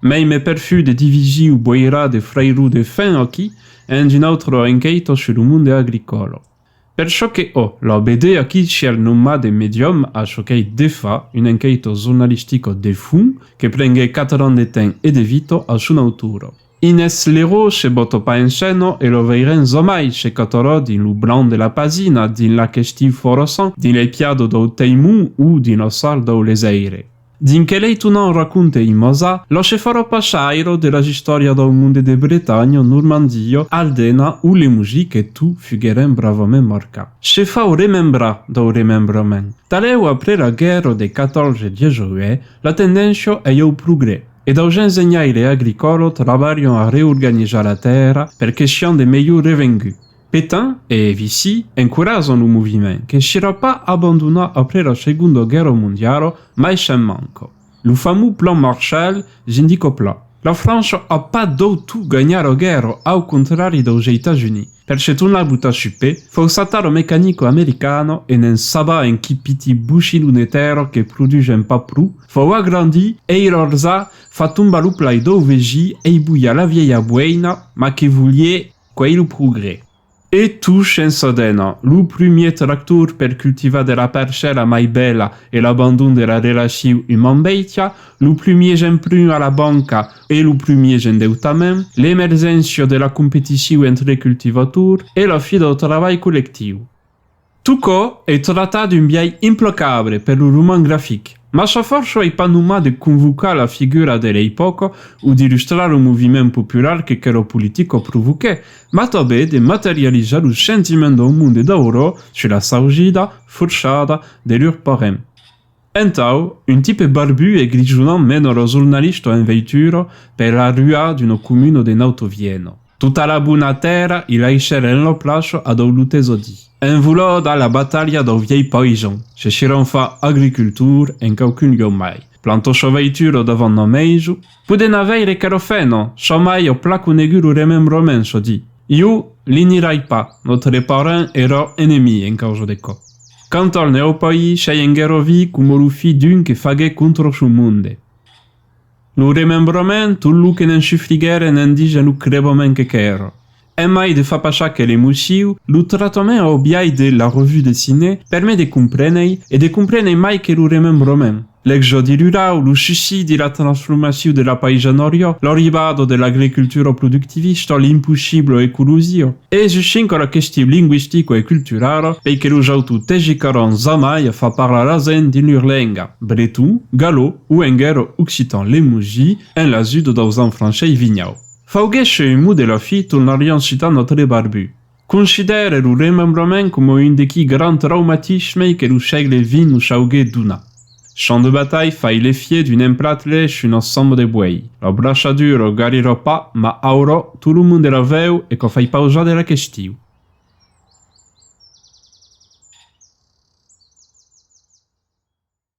Mei me perfiu de dividir o boirar de frairou de fen aquí ends un autre enqueito sur lo monde agricolo. Per çò que ò la BD aquí siel nommat de medium a çò qu'ei defa un enqueito jornalistico de fum que prengue quatre ans de temps e de vito a son autoro. Inès Liró se bota pas en seno e lo veirem zomai se catorò dins lo blanc de la pagina, dins l'ac estiu foroçant, dins l'epiado dau Teimon o dins lo sard dau Lesaire. Dins que lei Tounant raconte in Mosa, lo chefòro pachairo de las istòrias dau monde de Bretanha, Normandia, Aldena o Lemuji que tu fugueren bravament marcar. Se fau remembrar dau remembrament. Talèu après la guèrra de 1418, la tendéncia ei au progrès, e daus ensenhaires agricòla trabalhan a reorganizar la tèrra per que sian de melhor revengut. Petain e Vichy encourajan lo moviment, qu'enshirà pas abandonat après la Segonda Guèrra Mondiala, mai se'n manca. Lo famós Plan Marshall j'indica pla, La França a pas deu tot ganhar la guèrra, au contrari deus Eitats Units. Per se tornar botar sus pè, forçatà la mecanica americana e ne'n sabà en qui piti bochilon de tèrra que produsèm pas pro, fau agrandir ei ròrza, fa tombar lo plai deu vegí ei bolhar la vièlha boeina, ma que volié, Qu'ei lo progrès. E tu shensa dena, lo prumier tractor per cultivar de la parcèla mai bèla e l'abandon de la relaciu uman-bèitia, lo prumier jemprun a la banca e lo prumier jendeutament, l'emergéncia de la competiciu entre cultivators e la fi dau trabalh collectiu. Tocò ei tratar d'un biais implacable per lo roman grafic, mas sa fòrça ei pas nomar de convocar la figura de l'epòca o d'illustrar lo moviment popular que querò politico provoquè, mas tabé de materializar lo sentiment dau monde d'aurò sus la saujida, forçada, de lur parent. Entau, un tipe barbu e grijonant mena lo jornalista en veitura per la rua d'una comuna de Nauto Vieno. Tota la bona tèrra i laishèr en la plaça a dau lutesadi. Envolada la batalha dau vièlh paisan, se chirant fa agricultor en quauqu'un lieu mai, planta sa veitura davant na maiso, podent avèire qu'era fena, sa mai a pla conegut lo remembrament, se di, Iu li nirai pas, no te reparan era enemí en causa de cò. Quant al nèu país, Chayengero vi coma lo fi d'un que faguèt contra son monde. Lo remembrament, tot lo que ne'n chifliguèren en dija lo crevament que qu'èra. Emai de fa pas aquel emociu, lo tractament au biais de La Revue Dessinée permet de compréner, e de compréner mai que lo remembrament, L'exòdi rurau, lo suicidi, la transformacion de la païsan oriò, l'arribada de l'agricultura productivista, l'impossibla ecologia. E sustinc a la question linguistica e culturala, pei que los autors tegicaràn jamai a far parlar la gent dins lur lenga, breton, galò o enguèra occitan lemosi, en l'ajuda daus enfranchei vignau. Fauguèsse un mot de la fi, tornarián citar notre Barbu. Considère lo remembrament coma un dequi grand traumatismei que lo sègle vint nos auguèt donar. Champ de batalh fai l'efiet d'un emplat lèch un ensemble de buèi. La braçadura o garirò pas, ma aurò, tot lo monde la vèu e quò fai pausar de la questiu.